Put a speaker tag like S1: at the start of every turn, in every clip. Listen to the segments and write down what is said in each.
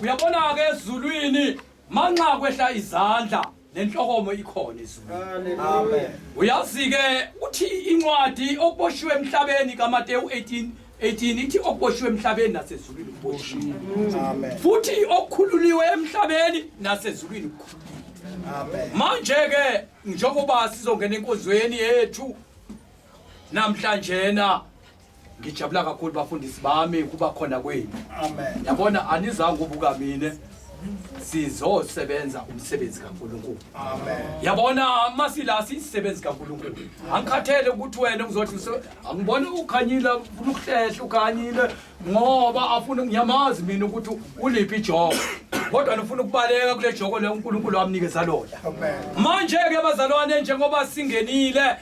S1: uyabona-ke ezulwini manxa kwehla izandla nenhlokomo ikhona ezulwini
S2: uyazi-ke
S1: uthi incwadi okuboshiwe emhlabeni kamateyu 18 18 ithi okuboshiwe emhlabeni nasezulwini kuboshiwe futhi
S2: okukhululiwe
S1: emhlabeni nasezulwini kukhululiwe
S2: manje-ke
S1: njengoba sizongena enkonzweni yethu namhlanjena ngijabula kakhulu bafundisi bami kuba khona kwenu amen yabona
S2: anizange
S1: ubuka mina sizosebenza umsebenzi kaNkuluNkulu amen
S2: yabona amasila
S1: sisebenzi kaNkuluNkulu angikhathele ukuthi wena uzothi angibone ukhanyile ufuna ukuhlehla ukhanyile ngoba afuna ngiyamazi mina ukuthi uliphi ijoko kodwa nifuna ukubaleka kule joko le uNkuluNkulu amnikeza lona manje
S2: ke
S1: bazalwane njengoba singenile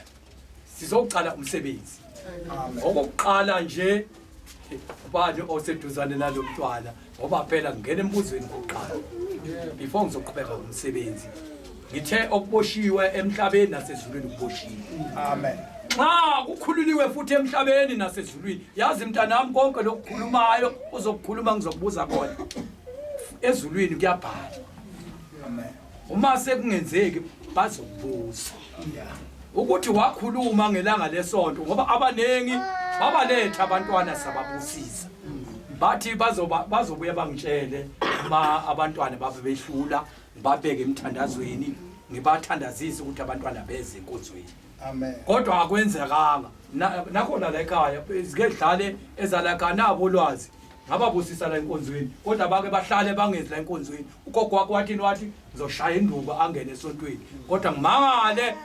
S1: sizoqala umsebenzi
S2: okokuqala nje
S1: ubani oseduzane nalo mntwana ngoba phela ngingena embuzweni kokuqala before ngizoqhubeka umsebenzi ngithe okuboshiwe emhlabeni nasezulwini kuboshiwe amen
S2: nxa
S1: kukhululiwe futhi emhlabeni nasezulwini yazi mntanami konke lokukhulumayo uzokukhuluma ngizokubuza kona ezulwini kuyabhala amen
S2: uma
S1: sekungenzeki bazobuza ukuthi wakhuluma ngelanga lesonto ngoba abaningi babaletha abantwana sababusisa bathi bazoba bazobuya bangitshele uma abantwana babe behlula ngibabeke emthandazweni ngibathandazise ukuthi abantwana beze enkonzweni amen kodwa
S2: akwenzekanga
S1: nakhona la ekhaya zike dlale ezalakha nabo lwazi ngababusisa la enkonzweni kodwa bake bahlale bangezi la enkonzweni ugogo wakho wathini wathi ngizoshaya induba angene esontweni kodwa ngimangale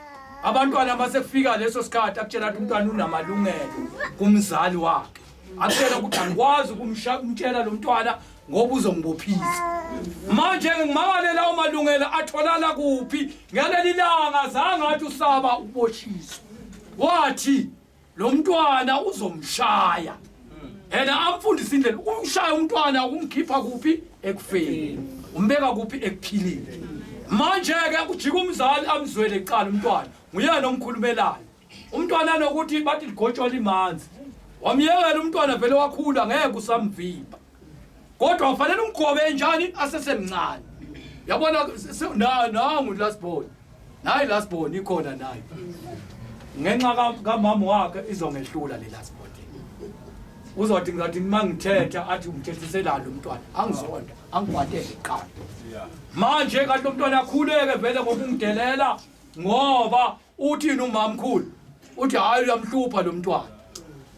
S1: abantwana uma sekufika leso sikhathi akutshela ukuthi umntwana unamalungelo kumzali wakhe akutshela ukuthi angikwazi ukumtshela lo mntwana ngoba uzongibophisa manje ngimangale lawo malungelo atholala kuphi ngaleli langa zange athi usaba ukuboshiswa wathi lo mntwana uzomshaya and amfundise indlela umshaya umntwana umkhipha kuphi ekufeni umbeka kuphi ekuphilile manje ke ujika umzali amzwele kuqala umntwana nguyena omkhulumelayo umntwana anokuthi bathi ligotshwa limanzi wamyekela umntwana vele wakhula ngeke usamviba kodwa ufanele umgobe njani asesemncane yabona nangu last born nayi last born ikhona nayo ngenxa kamama wakhe izongehlula le last born uzothi ngathi uma ngithetha athi umthethiselani umntwana angizonda angikwatele kuqala manje kanti umntwana akhuleke vele ngoba ungidelela ngoba uthini umamkhulu uthi hayi uyamhlupha lo mntwana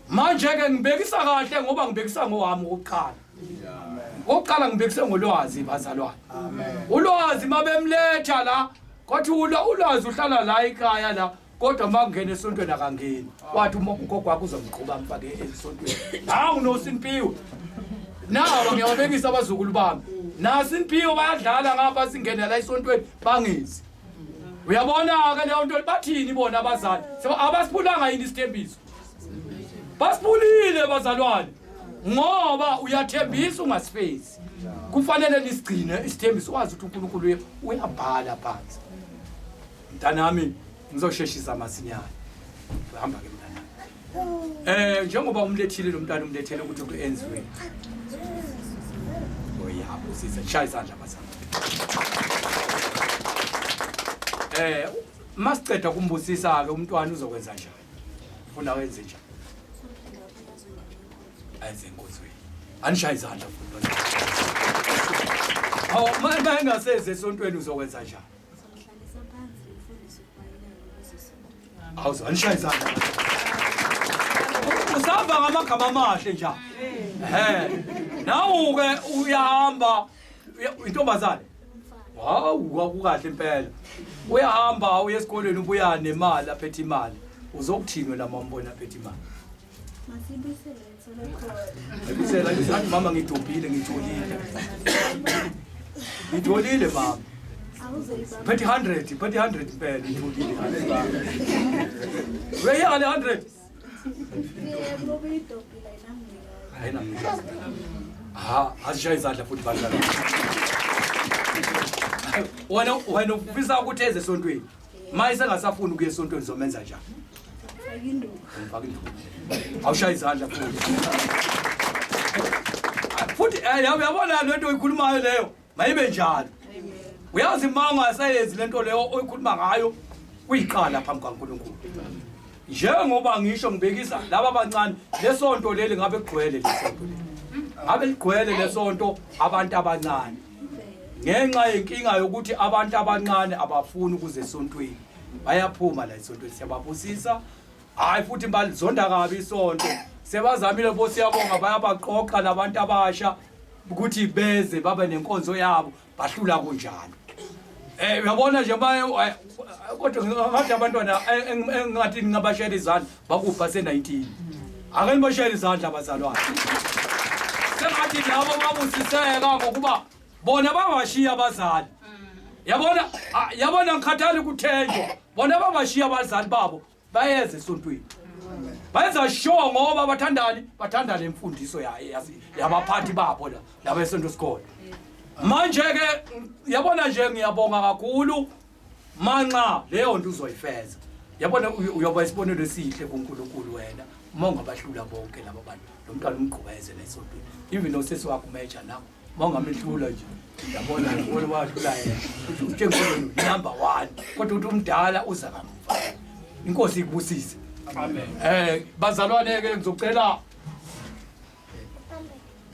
S1: manje-ke ngibekisa kahle ngoba ngibekisa ngowami wokuqala okokuqala ngibekise ngolwazi bazalwane ulwazi mabemletha la kwathi ulwazi uhlala la ikhaya la kodwa uma kungena esontweni akangeni wathi uma ugogo wakho uzomgquba mfake esontweni hawu nosinpiwe nawa ngiyababekisa abazukulu bami nasinpiwe bayadlala ngapha singene la esontweni bangezi uyabona-ke leyo nto bathini bona abazali abasiphulanga yini isithembiso basiphulile bazalwane ngoba uyathembisa ungasifezi kufanele nisigcine isithembiso wazi ukuthi unkulunkulu uyabhala phansi mntanami ngizosheshisa masinyane uhamba ke Eh njengoba umlethile lo mntana umlethele ukuthi kuyenziwe. Oyabo sisa shaya isandla bazama. Eh masiceda kumbusisa ke umntwana uzokwenza njani? Ufuna wenze njani? Ayenze inkozweni. Anishaya izandla futhi. Awu manje engaseze esontweni uzokwenza njani? Awuze anishaye izandla. Usahamba ngamagama amahle nje. Ehe. Nawu ke uyahamba uya- intombazane. Hawu kwakukahle impela. Uyahamba uye esikolweni ubuya nemali aphethe imali. Uzokuthini wena mambona aphethe imali? Ayibisela ayibisela mama ngidobhile ngitholile. Ngitholile mama. Phethi 100, phethi 100 impela ngitholile. Weyi ale 100. Hayi nami. Ha, asishaye izandla futhi badlala. Wena wena ufisa ukuthi eze esontweni. Maye sengasafuni ukuya esontweni zomenza njani? Ayinduku. Ngifaka induku. Awushaya izandla futhi. Futhi eh yabona lento oyikhulumayo leyo. Mayibe njalo. Uyazi uma ungasayenzi lento leyo oyikhuluma ngayo uyiqala phambi kaNkulunkulu. Njengoba ngisho ngibekisa laba abancane lesonto leli ngabe kugcwele lesonto leli. Ngabe ligcwele lesonto abantu abancane. ngenxa yenkinga yokuthi abantu abancane abafuni ukuze esontweni bayaphuma la esontweni siyababusisa hhayi futhi balizonda kabi isonto sebazamile bo siyabonga bayabaqoqa nabantu abasha ukuthi beze babe nenkonzo yabo bahlula kunjalo Eh uyabona nje baye eh, kodwa ngathi abantwana eh, engathi ngingabashela izandla bakufa se-19 ake nibashayele izandla abazalwane sengathi labo babusiseka ngokuba bona bangashiya abazali yabona ah, yabona ngikhathali ukuthenjwa bona bangashiya abazali babo bayeza esontweni bayenza sure ngoba bathandani bathanda le mfundiso ya- ya- yabaphathi babo la labesonto sikole manje-ke yabona nje ngiyabonga kakhulu manxa leyo nto uzoyifeza yabona uyoba isibonelo esihle kuNkulunkulu wena uma ungabahlula bonke laba bantu lo mntwana umgqubeze nesontweni even osesi wakho umeja nawo uma ungamehlula nje yabona ngibona wahlula yena uthi utshengiseni number one kodwa uthi umdala uza kamuva inkosi ikubusise amen um bazalwane-ke ngizocela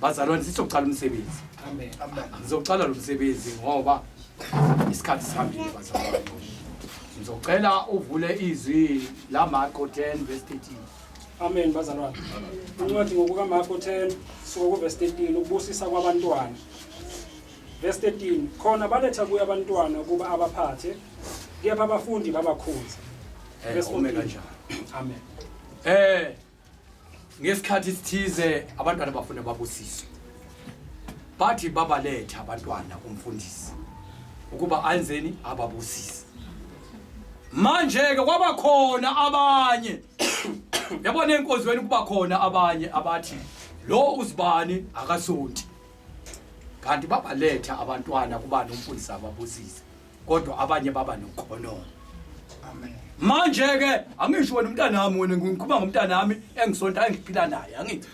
S1: bazalwane sizoqala umsebenzi ngizoqala lo msebenzi ngoba isikhathi sihambile bazalwane ngizocela uvule izwi lamarko 10 verse 13 amen
S3: bazalwane incwadi ngokukamarko 10 suka kuvesi 13 ukubusisa kwabantwana verse 13 khona baletha kuye abantwana ukuba abaphathe kepha abafundi babakhonza eh, verse 14 amen eh ngesikhathi sithize abantwana bafuna babusiswe bathi babaletha abantwana kumfundisi ukuba anzeni ababusise manje-ke kwaba khona abanye yabona enkonzweni kuba khona abanye abathi lo uzibani akasonti kanti babaletha abantwana kubani umfundisi ababusise kodwa abanye baba nokhonongo amen manje ke angisho wena umntanami wena ngikhuluma ngomntanami engisonta engiphila naye angithi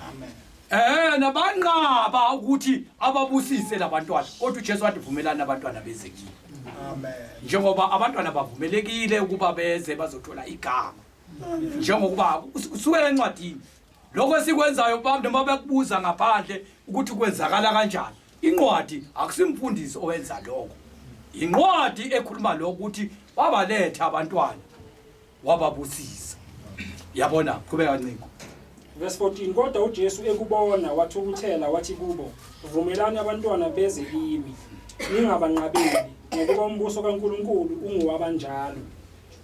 S3: amen eh nabanqaba ukuthi ababusise labantwana kodwa uJesu wathi vumelana abantwana bezekile amen njengoba abantwana bavumelekile ukuba beze bazothola igama njengokuba usuke encwadini lokho esikwenzayo baba noma bekubuza ngaphandle ukuthi kwenzakala kanjani inqwadi akusimfundisi owenza lokho inqwadi ekhuluma lokho ukuthi wabaletha abantwana wababusisa yabona qhubeka ncingo verse 14 kodwa uJesu ekubona wathukuthela wathi kubo vumelani abantwana beze kimi ningabanqabeli ngokuba umbuso kaNkuluNkulu ungowabanjalo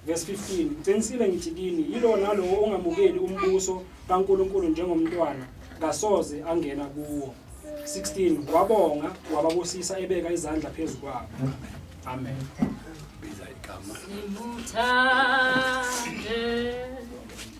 S3: Verse 15 Ngiqinisile ngithi kini yilo nalowo ongamukeli umbuso kaNkuluNkulu njengomntwana kasoze angena kuwo 16 wabonga wababusisa ebeka izandla phezu kwabo amen biza
S1: igama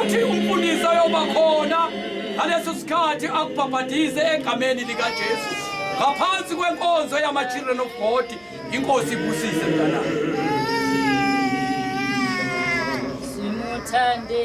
S1: uthi umfundisi ayoba khona ngaleso sikhathi akubhabhadize egameni likajesu ngaphansi kwenkonzo yama-children of god inkosi ibusise mntana
S4: simuthande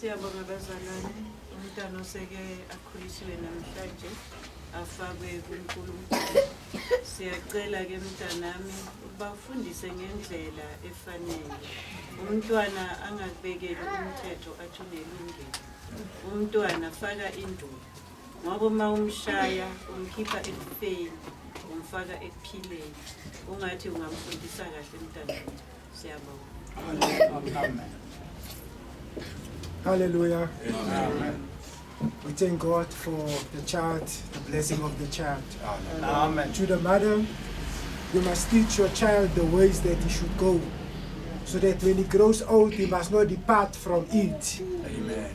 S5: Siyabonga bazalwane umntana oseke akhuliswe namhlanje afakwe kuNkulunkulu. Siyacela ke mntanami ukuba ufundise ngendlela efanele. Umntwana angakubekeli umthetho athi unelungelo. Umntwana faka induku ngoba uma umshaya umkhipha ekufeni umfaka ekuphileni ungathi ungamfundisa
S2: kahle mntanami siyabonga
S6: Hallelujah. Amen.
S2: We
S6: thank God for the child, the blessing of the child. Amen. Amen. To
S2: the mother,
S6: you must teach your child the ways that he should go, so that when he grows old, he must not depart from it. Amen.